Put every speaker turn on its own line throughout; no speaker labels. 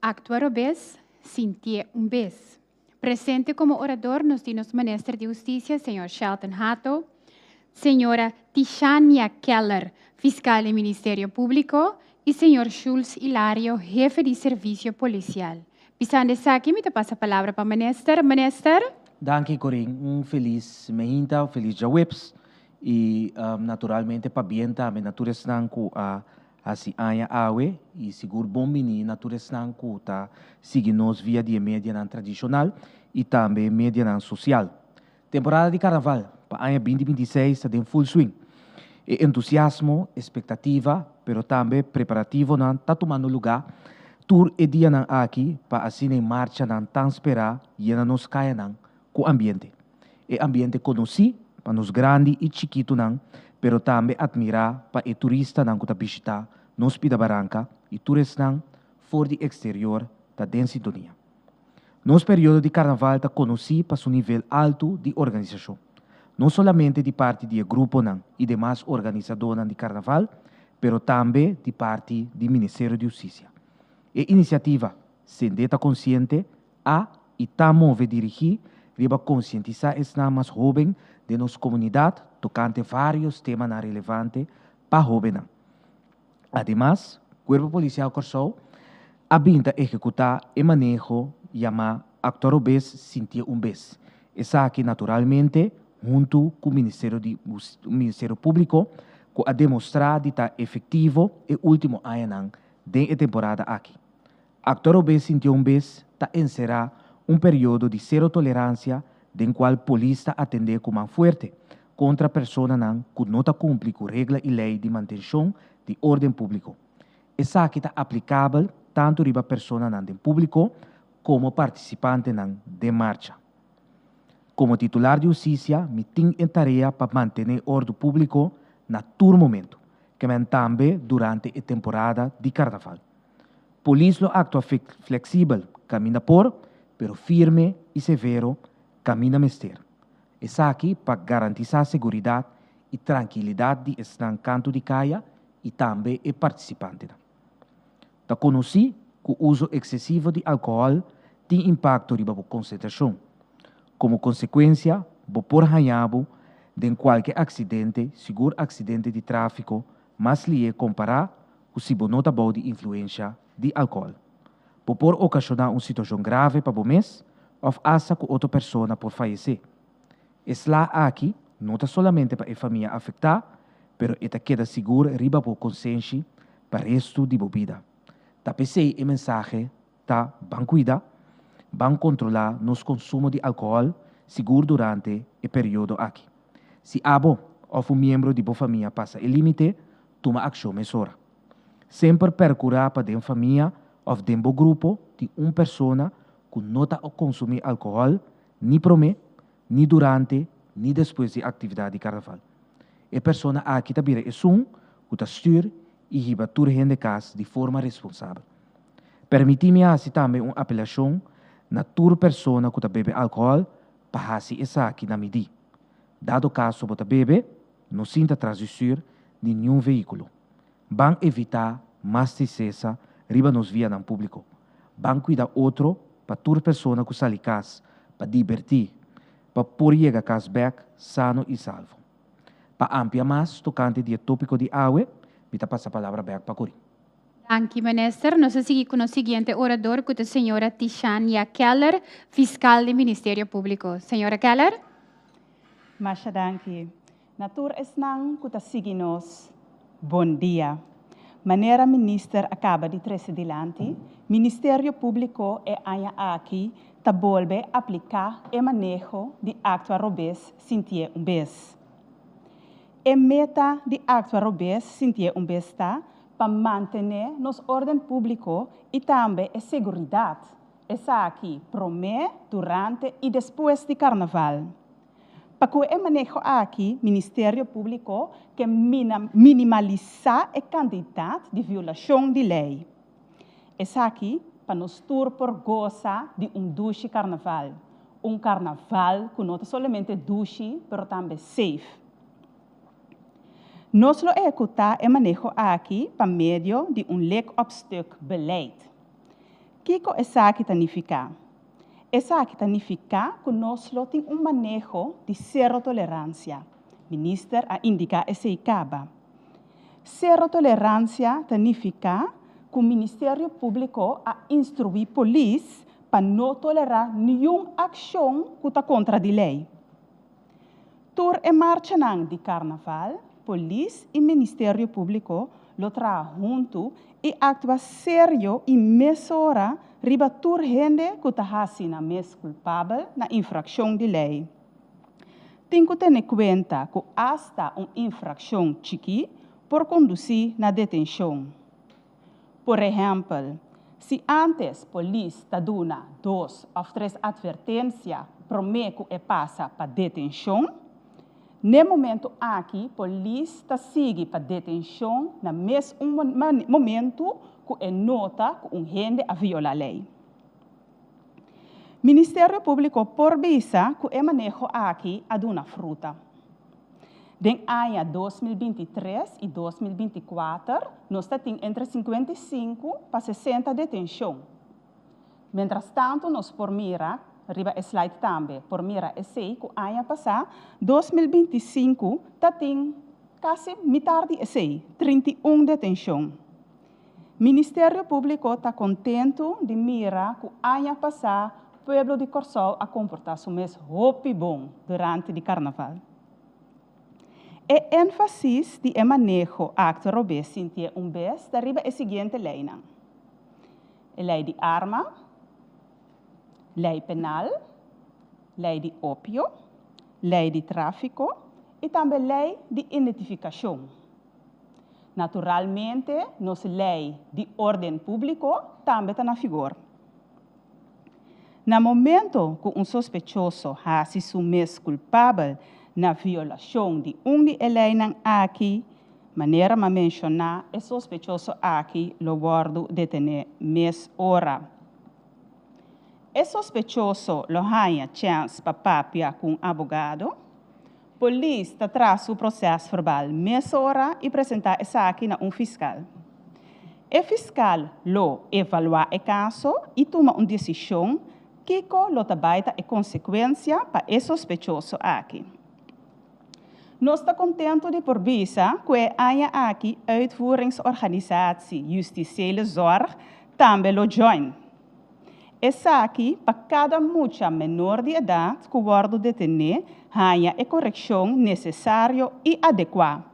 Actua robes, sintié un bes. Presente como orador nos tin nos Minister di Husticia, Señor Shelton Hato, Señora Tishania Keller, Fiscal di Ministerio Publico, y Señor Schulz Hilario, Hefe di Servicio Policial. Pisando esaki mi ta pasa palabra pa Minister. Minister. Danki Corine,
un feliz mehinta, un feliz djaweps y naturalmente pabien tambe na tur esnan cu a Hasi aña awe i sigur bon biní na tur esnan ku ta sigui nos via di e medianan tradishonal i tambe e medianan sosial. Temporada di Karnaval pa aña binti binti seis ta den ful swing. E entusiasmo, espektativa, pero tambe preparativonan ta tumando lugá tur e dianan aki pa asina e marchanan tan sperá yena nos kayanan ku ambiente. E ambiente conoci pa nos grandi y chikitunan pero tambe admira pa e turistanan cu ta bishita nos Pida Baranca y tur esnan for di exterior ta den sintonia. Nos periodo di Carnaval ta conoci pa su nivel alto di organisacion, no solamente di parti di e gruponan y demas organisadornan di Carnaval pero tambe di parti di Ministerio di Husticia. E iniciativa Sende ta Consciente! a i ta move dirigí riba konsientisá esnan mas hóben den nos komunidat tokante vários temanan relevante pa hóbennan. Ademas, Kuerpo Polisial Kòrsou a bin ta ehekutá e maneho yamá Actuar un bes, Sintié un bes, esaki naturalmente huntu ku Ministerio di Ministerio Públiko ku a demostrá di ta efektivo e último añanan den e temporada aki. Actor Obé sintió un bes ta encerá un periodo di cero tolerancia den cual polis ta atendé cu man fuerte contra personanan cu no ta cumpli cu regla y ley di mantencion di orden publico. Esaki ta aplicabel tanto riba personanan den publico como participantenan den marcha. Como titular di husicia mi tin e tarea pa mantené ordu publico na tur momento, kemen tambe durante e temporada di carnaval. Polis lo aktua fleksibel kaminda por, pero firme i severo kaminda mester. Esaki pa garantisá seguridat i trankilidat di esnan kantu di kaya i tambe e partisipantenan. Ta konosí ku uso eksesivo di alkohòl tin impakto riba bo konsentrashon. Komo konsekuensia bo por hañá bo den kualke aksidente, sigur aksidente di tráfiko, Mas lié kompará ku si bo no ta bou di influensha di alkohol. Bo por okashoná un situashon grave pa bo mes òf asta ku otro persona por fayesé. E sla aki no ta solamente pa e famia afektá, pero e ta keda sigur riba bo konsenshi pa restu di bo bida. Ta p'esei e mensahe ta ban kuidá, ban kontrolá nos konsumo di alkohòl sigur durante e periodo aki. Si abo òf un miembro di bo famia pasa e límite, tuma akshon mesora. Semper perkurá pa den famia òf den bo grupo tin un persona ku no ta konsumí alkohòl ni promé, ni durante ni despues di e aktividat di Karnaval. E persona aki ta bira esun ku ta stür i hiba tur hende kas di forma responsabel. Permití mi hasi tambe un apelashon na tur persona ku ta bebe alkohòl pa hasi esaki na mi di. Dado kaso bo ta bebe, no sinta tras di stür di niun veíkulo. Ban evitá mas trisesa riba nos vianan públiko. Ban kuida otro pa tur persona ku sali kas pa dibertí pa por yega kas bèk sano i salvo. Pa amplia mas tokante di e tópiko di awe, mi ta pasa palabra bèk pa Corín. Danki minister.
Nos a sigui cu nos siguiente orador cu ta señora Tishania Keller, fiscal di Ministerio Publico. Señora Keller.
Masha danki. Na tur esnan cu ta sigui nos, bon dia. Manera minister a caba di trece dilanti, Ministerio Publico e aña aki ta bolbe aplica e maneho di actua robes sintié un bes. E meta di actua robes sintié un bes ta pa mantené nos órden públiko i tambe e seguridat, esaki promé, durante i despues di karnaval. Pa ku e maneho aki Ministerio Públiko ke minimalisá e kantidat di violashon di lei. Esaki pa nos tur por gosa di un dushi karnaval, un karnaval ku no ta solamente dushi pero tambe safe. Nos lo ehekutá e maneho aki pa medio di un lek-òpstuk beleid. Kiko esaki ta nifiká? Esaki ta nifiká ku nos lo tin un maneho di sero toleransia, Minister a indiká esei kaba. Sero toleransia ta nifiká ku Ministerio Públiko a instruí polis pa no tolerá niun akshon ku ta kontra di lei. Tur e marchanan di Karnaval, polis i Ministerio Públiko lo traha huntu i aktua serio i mesora riba tur hende ku ta hasi nan mes kulpabel na infrakshon di lei. Tin ku tene kuenta ku asta un infrakshon chikí por kondusí na detenshon. Por ehèmpel, si ántes polis ta duna dos òf tres atvertensia promé ku e pasa pa detenshon, n'e momentu aki polis ta sigui pa detenshon na mes un momentu ku e nota ku un hende a viola lei. Ministerio Públiko por bisa ku e maneho aki a duna fruta. Den aña dos mil binti tres i dos mil binti kuater nos ta tin entre sinkuenta i sinku pa sesenta detenshon. Mentrastantu nos por mira, riba e slide tambe, por mira esei ku aña pasá, dos mil binti i sinku, ta tin kasi mitar di esei, trinta i un detenshon. Ministerio Públiko ta kontentu di mira ku aña pasá pueblo di Kòrsou a komportá su mes hopi bon durante di karnaval. E énfasis di e maneho akto robé sintié un bes ta riba e siguiente leinan, e lei di arma, lei penal, lei di opio, lei di tráfiko i tambe lei di identifikashon. Naturalmente nos lei di orden públiko tambe ta na figor. Na momento ku un sospechoso hasi su mes kulpabel na violashon di un di e leinan aki, manera m'a menshoná e sospechoso aki lo wòrdu detené mes ora. E sospechoso lo haña chèns pa papia ku un abogado, Polis ta traha su proces verbal mesora y presenta esaki na un fiscal. E fiscal lo evalua e caso y tuma un decision kico lo ta bay ta e consecuencia pa e sospechoso aki. Nos ta contento di por bisa cu e aña aki Uitvoeringsorganisatie Justitiële Zorg tambe lo join. Esaki pa kada mucha menor di edat ku wòrdu detené haña e korekshon nesesario i adekuá.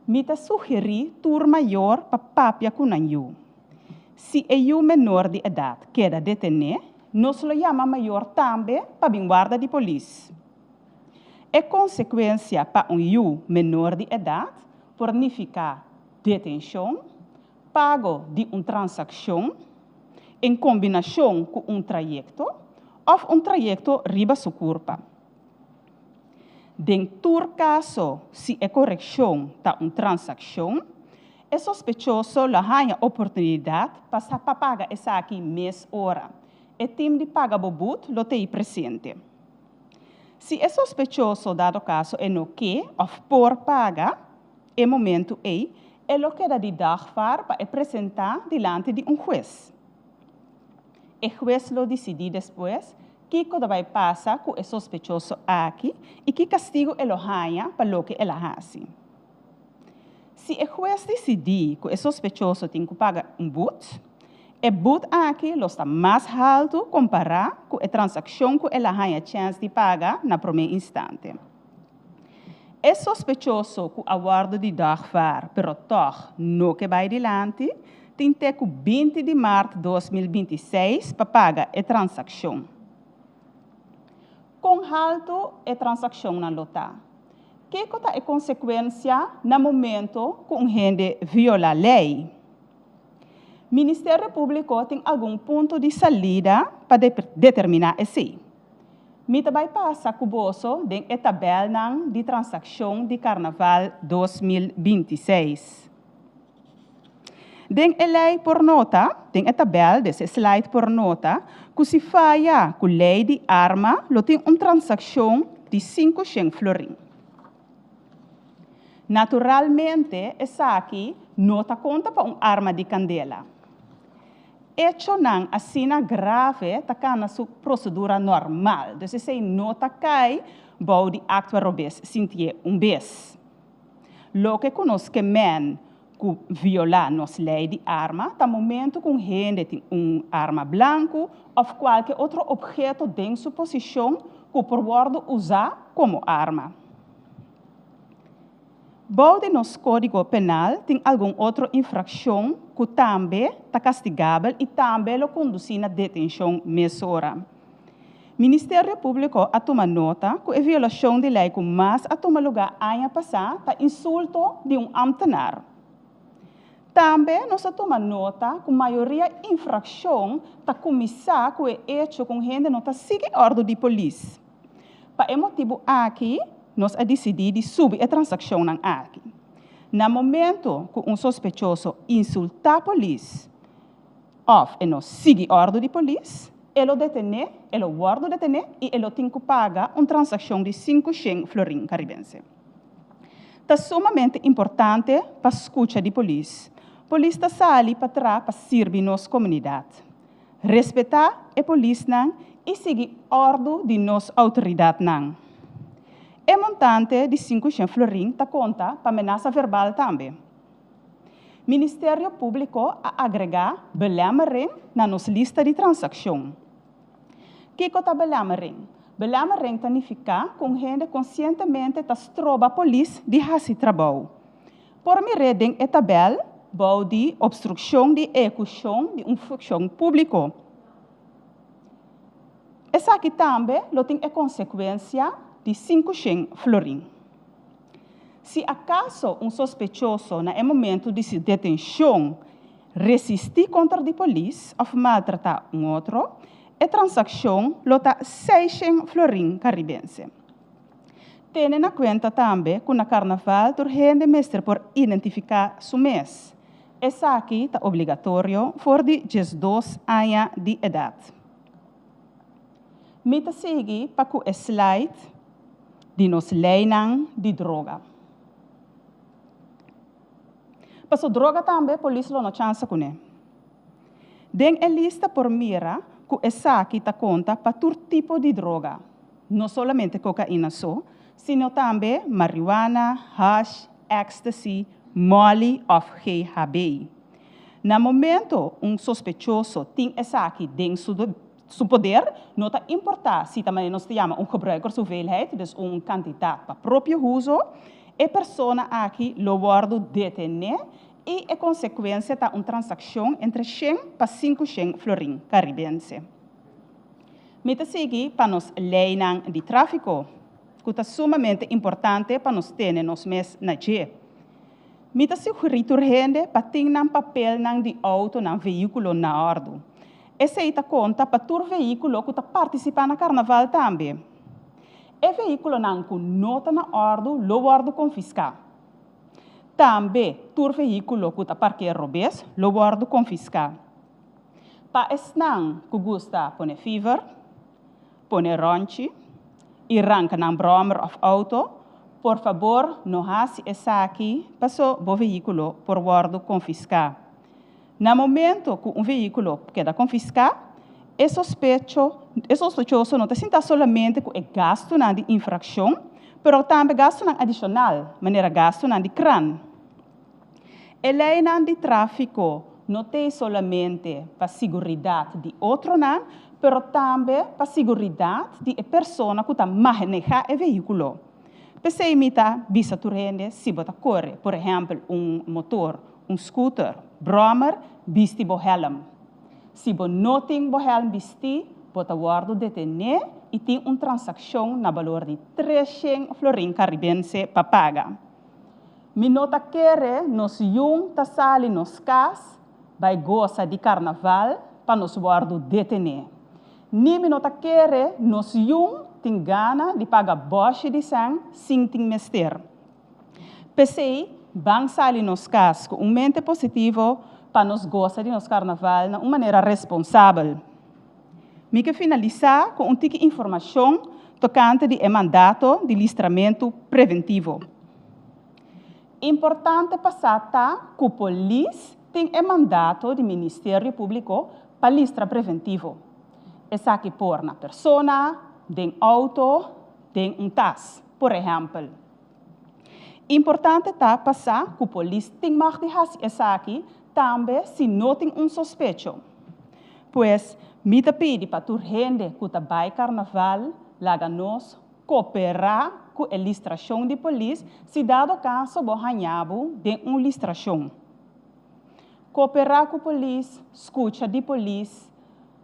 Mi ta sugerí tur mayor pa papia ku nan yu. Si e yu menor di edat keda detené, nos lo yama mayor tambe pa bin warda di polis. E konsekuensia pa un yu menor di edat por nifiká detenshon, Pago di un transakshon en kombinashon ku un trayekto òf un trayekto riba su kurpa. Den tur kaso si e korekshon ta un transakshon, e sospechoso lo haña oportunidat pa sa pa paga esaki mes ora. E tim di paga bo bud lo tei presente. Si e sospechoso, dado kaso, e no ke òf por paga, E momentu ei e lo keda di dagvaar pa e presentá dilanti di un hues. E hues lo disidí despues kiko ta bai pasa ku e sospechoso aki i ki kastigu e lo haña pa loke el a hasi. Si e hues disidí ku e sospechoso tin ku paga un but, e but aki lo sta mas haltu kompará ku e transakshon ku el a haña chèns di paga na promé instante. E sospechoso ku a wòrdu di dògfar pero tòg no ke bai dilanti, tin te ku binti di mart dos mil binti i seis pa paga e transakshon. Kon haltu e transakshonnan lo ta? Kiko ta e konsekuensia na momento ku un hende viola lei? Ministerio Públiko tin algun punto di salida pa determiná esei. Mi ta bai pasa ku boso den e tabèlnan di transakshon di Karnaval dos mil binti seis. Den e lei por nota, den e tabèl des e slide por nota ku si faya ku lei di arma lo tin un transakshon di sinku shen florin. Naturalmente esaki no ta konta pa un arma di kandela. Echonan asina grave ta cana su procedura normal, dus esey no ta cay bao di actua robez sintié un bez. Loke cu nos kemen cu viola nos ley di arma ta momento cu un hende tin un arma blancu of cualke otro obheto den su posicion cu por wordo uza como arma. Bou di nos Kódigo Penal tin algun otro infrakshon ku tambe ta kastigabel i tambe lo kondusí na detenshon mesora. Ministerio Públiko a tuma nota ku e violashon di lei ku mas a tuma lugá aña pasá ta insulto di un ámtenar. Tambe nos a tuma nota ku mayoria infrakshon ta kuminsá ku e echo ku un hende no ta sigui òrdu di polis. Pa e motibu aki nos a disidí di subi e transakshonnan aki. Na momentu ku un sospechoso insultá polis òf e no sigui òrdu di polis, e lo detené, e lo wòrdu detené i e lo tin ku paga un transakshon di sinku shen florin karibense. Ta sumamente importante pa skucha di polis. Polis ta sali patrá pa sirbi nos komunidat. respetá e polisnan i sigui òrdu di nos outoridatnan. E montante di sinku shen florin ta konta pa menasa verbal tambe. Ministerio Públiko a agregá belèmmering na nos lista di transakshon. Kiko ta belèmmering? Belèmmering ta nifiká ku un hende konsientemente ta stroba polis di hasi trabou. Por mir'é den e tabèl bou di Obstrukshon di eekushon di un funkshon públiko. Esaki tambe lo tin e konsekuensia di sinku shen florin. Si akaso un sospechoso na e momentu di su detenshon resistí konter di polis òf maltratá un otro, e transakshon lo ta seis shen florin karibense. Tene na kuenta tambe ku na karnaval tur hende mester por identifiká su mes. Esaki ta obligatorio for di diesdos aña di edat. Mi ta sigui pa ku e slide di nos leinan di droga. Paso droga tambe polis lo no chansa kuné. Den e lista por mira ku esaki ta konta pa tur tipo di droga, no solamente kokaina so, sino tambe marihuana, hash, ecstasy, molly òf GHB. Na momento un sospechoso tin esaki den su poder, no ta importá si ta manera nos ta yama un gebruikershoeveelheid, dus un kantidat pa propio huzo, e persona aki lo wòrdu detené I e konsekuensia ta un transakshon entre shen pa sinku shen florin karibense. Mi ta sigui pa nos leinan di tráfiko, ku ta sumamente importante pa nos tene nos mes na dje. Mi ta sugerí tur hende pa tin nan papelnan di outonan, veíkulo, na òrdu. Esei ta konta pa tur veíkulo ku ta partisipá na karnaval tambe. E veíkulonan ku no ta na òrdu lo wòrdu konfiská. Tambe tur vehíkulo ku ta parkea robes lo wòrdu konfiská. Pa esnan ku gusta pone fiver, pone rònchi i ranka nan bròmer òf outo, por fabor no hasi esaki paso bo vehíkulo por wòrdu konfiská. Na momento cu un vehiculo keda confisca, e sospechoso no ta sinta solamente cu e gastunan di infraccion, pero tambe gastunan adicional, manera gastunan di kran. E leinan di trafico no t'ei solamente pa siguridad di otronan, pero tambe pa siguridad di e persona cu ta maheneha e vehiculo. P'esey mi ta bisa tur hende si bo ta core, por ehempel, un motor Un scooter, Brommer, bisti bo helm. Si bo no tin bo helm bistí, bo ta wòrdu detené i tin un transakshon na balor di tres shen florin karibense pa paga. Mi no ta kere nos yun ta sali nos kas bai gosa di karnaval pa nos wòrdu detené. Ni mi no ta kere nos yun tin gana di paga bòshi di sèn sin tin mester. P'esei, ban sali nos kas ku un mente positivo pa nos gosa di nos Karnaval na un manera responsabel. Mi ke finalisá ku un tiki informashon tokante di e mandato di listramentu preventivo. Importante pa sa ta ku polis tin e mandato di Ministerio Públiko pa listra preventivo. Esaki por na persona, den outo, den un tas. Por ehèmpel, importante ta pa sa ku polis tin mag di hasi esaki tambe si no tin un sospecho. Pues, mi ta pidi pa tur hende ku ta bai karnaval laga nos koperá ku e listrashon di polis si dado kaso bo haña bo den un listrashon. Koperá ku polis, skucha di polis,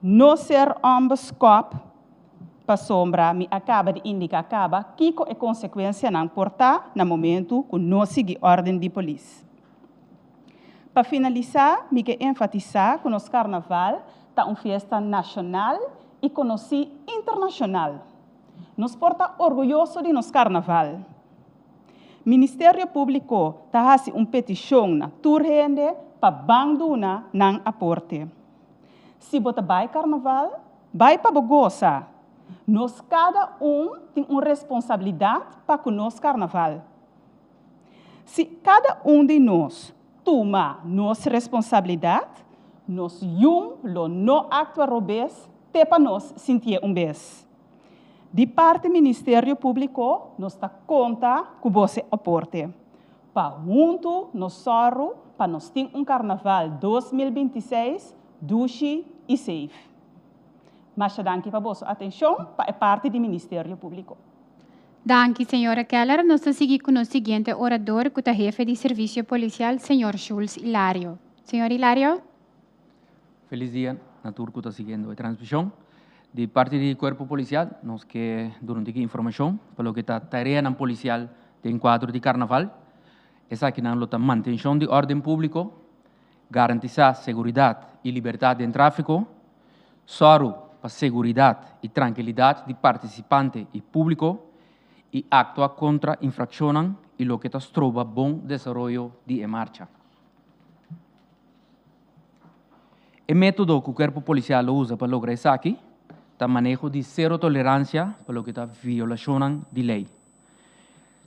no ser òmbes kòp. Pasobra mi a kaba di indiká kaba kiko e konsekuensianan por ta na momentu ku no sigui òrden di polis. Pa finalisá mi ke enfatisá ku nos karnaval ta un fiesta nashonal i konosí internashonal. Nos por ta orguyoso di nos karnaval. Ministerio Públiko ta hasi un petishon na tur hende pa ban duna nan aporte. Si bo ta bai karnaval, bai pa bo gosa. Nos kada un tin un responsabilidat pa ku nos karnaval. Si kada un di nos tuma nos responsabilidat, nos yun lo no aktua robes te pa nos sintié un bes. Di parti Ministerio Públiko nos ta konta ku bo se aporte. Pa huntu nos sòru pa nos tin un Karnaval dos mil binti i seis dushi i safe. Masha danki pa boso atenshon pa e parti di Ministerio Públiko. Danki,
señora Keller. Nos ta sigui ku nos siguiente orador ku ta hefe di Servisio Polisial, señor Schulz Hilario. Señor Hilario.
Felis dia na tur ku ta siguiendo e transmishon. Di parti di Kuerpo Polisial nos ke duna un tiki informashon pa loke ta tareanan polisial den kuadro di Karnaval. Esakinan lo ta mantenshon di órden públiko, garantisá seguridat i libertat den tráfiko, sòru pa seguridat i trankilidat di partisipante i públiko i aktua kontra infrakshonnan i loke ta stroba bon desaroyo di e marcha. E método ku Kuerpo Polisial lo usa pa logra esaki ta maneho di sero toleransia pa loke ta violashonnan di lei.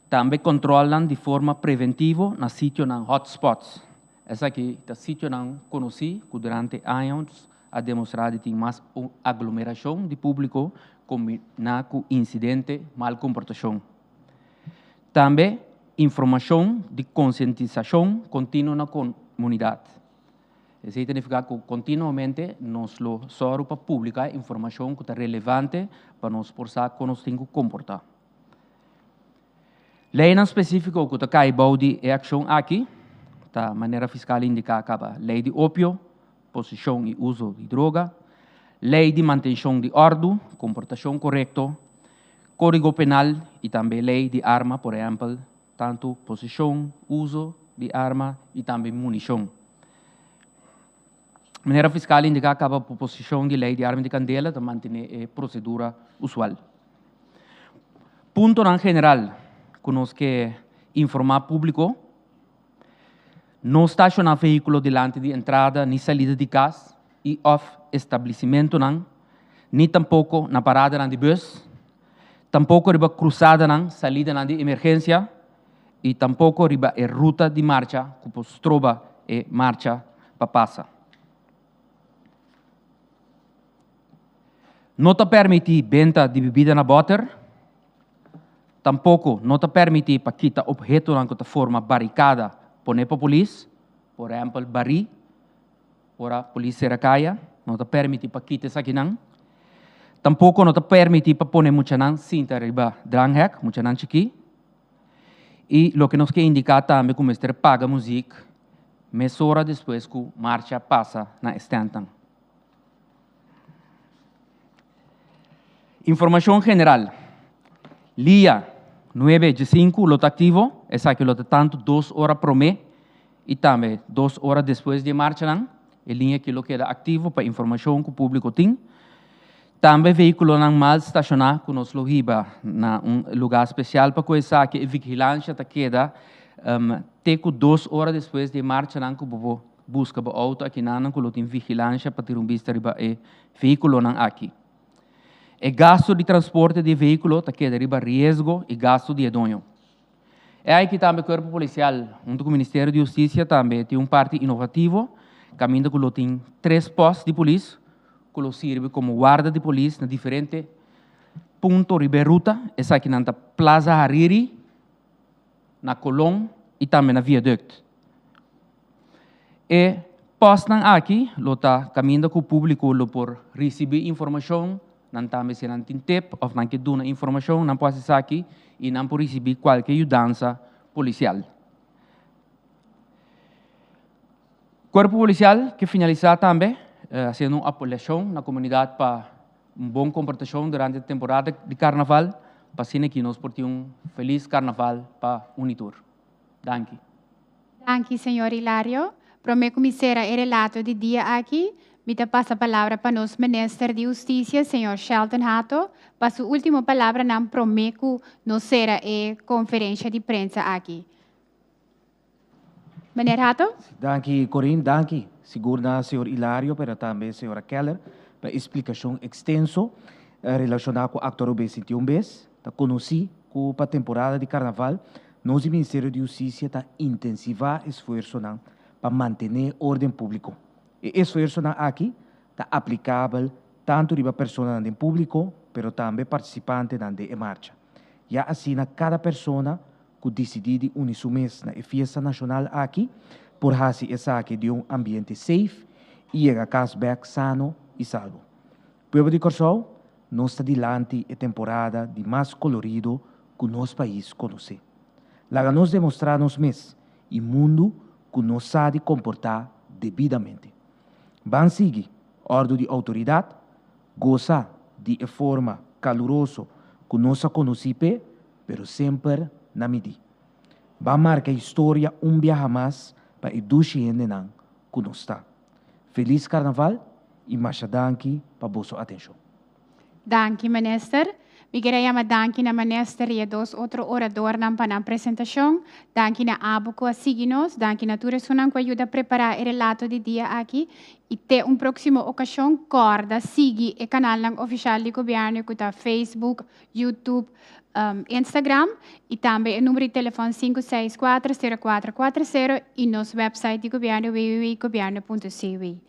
Tambe kòntròlnan di forma preventivo na sitionan hot spots. Esaki ta sitionan konosí ku durante años a demostrá di tin mas aglomerashon di públiko kombina ku insidente mal komportashon. Tambe informashon di konsientisashon kontinuo na komunidat. Esei ta nifiká ku kontinuamente nos lo sòru pa publiká informashon ku ta relevante pa nos por sa kon nos tin ku komportá. Leinan spesífiko ku ta kai bou di e akshon aki ta manera fiskal indiká kaba Lei di Opio, poseshon i uso di droga, lei di mantenshon di òrdu, komportashon korekto, Kódigo Penal i tambe lei di arma, por ehèmpel, tantu poseshon, uso di arma i tambe munishon. Manera fiskal a indiká kaba proposishon di lei di arma di kandela ta mantené e prosedura usual. Puntonan general ku nos ke informá públiko. No stashoná vehíkulo dilanti di entrada ni salida di kas i òf establisimentunan, ni tampoko na paradanan di bus, tampoko riba krusadanan, salidanan di emergensia, i tampoko riba e ruta di marcha ku por stroba e marcha pa pasa. No ta permití benta di bibida na bòter, tampoko no ta permití pa kita ophetonan ku ta forma barikada pon'é pa polis, por ehèmpel barí, ora polis sera kaya no ta permití pa kita esakinan. Tampoko no ta permití pa pone muchanan sinta riba dranghèk, muchanan chikí. I loke nos ke indiká tambe ku mester paga muzik mesora despues ku marsha pasa na e stèntnan. Informashon general, Lia nuebe dje sinku lo ta aktivo, esaki lo ta tantu dos ora promé i tambe dos ora despues di e marchanan. E liña aki lo keda aktivo pa informashon ku públiko tin. Tambe veíkulonan mal stashoná ku nos lo hiba na un lugá spesial pa koe esaki e vigilansha ta keda te ku dos ora despues di e marchanan ku bobo. Buska bo outo akinanan ku lo tin vigilansha pa tira un bista riba e vehíkulonan aki. E gastu di transporte di e vehíkulo ta keda riba riesgo i gastu di e doño. E ai ki tambe Kuerpo Polisial huntu ku Ministerio di Hustisia tambe tin un parti inovativo kaminda ku lo tin tres pòst di polis ku lo sirbi komo warda di polis na diferente punto riba e ruta. Esakinan ta Plaza Hariri. na Colón y tambe na Viaduct. E postnan aki lo ta caminda cu publico lo por ricibi informacion, nan tambe si nan tin tip of nan ke duna informacion nan por haci esaki y nan por ricibi cualkier yudansa policial. Cuerpo Policial ke finalisa tambe haciendo un apelacion na comunidad pa. Un bon comportacion durante e temporada di carnaval pa asina ki nos por tin un feliz carnaval pa uni tur. Danki. Danki
señor Hilario. Prome cu mi cera e relato di dia aki, mi ta pasa palabra pa nos Minister di Husticia, señor Shelton Hato, pa su ultimo palabranan prome cu nos cera e conferencia di prensa aki. Meneer Hatto. Danki Corine,
danki sigur na señor Hilario pero tambe señora Keller pa e splikashon ekstenso relashoná ku akto Rubén Sintié un bes ta konosí ku pa temporada di karnaval nos di Ministerio di Hustisia ta intensivá esfuersonan pa mantené órden públiko. E esfuersonan aki ta aplikabel tantu riba personanan den públiko pero tambe partisipantenan den e marcha. Ya asina kada persona cu dicidí di uni su mes na e fiesta nacional aki, por haci esaki di un ambiente safe y yega cas bek sano y salbo. Pueblo di Corsou, nos ta dilanti e temporada di mas colorido cu nos pais conoce. Laga nos demostra nos mes y mundo cu nos sa di comporta debidamente. Ban sigui ordo di autoridad. Gosa di e forma kaluroso ku nos a konosí p'e, pero semper na midí. Ban marka historia un biaha mas pa e dushi hendenan ku nos ta. Felis Karnaval i masha danki pa boso atenshon. Danki
Minister. Mi kere yama danki na Manester i e dos otro oradornan pa nan presentashon. Danki na Abu ku a sigui nos. Danki na tur esunnan ku a yuda prepará e relato di dia aki. I te un próksimo okashon, kòrda sigui e kanalnan ofishal di Gobièrnu ku ta Facebook, YouTube, Instagram i tambe e number di telefòn sinku seis kuater sero kuater kuater sero i nos wèpsait di Gobièrnu www.gobièrnu.cw.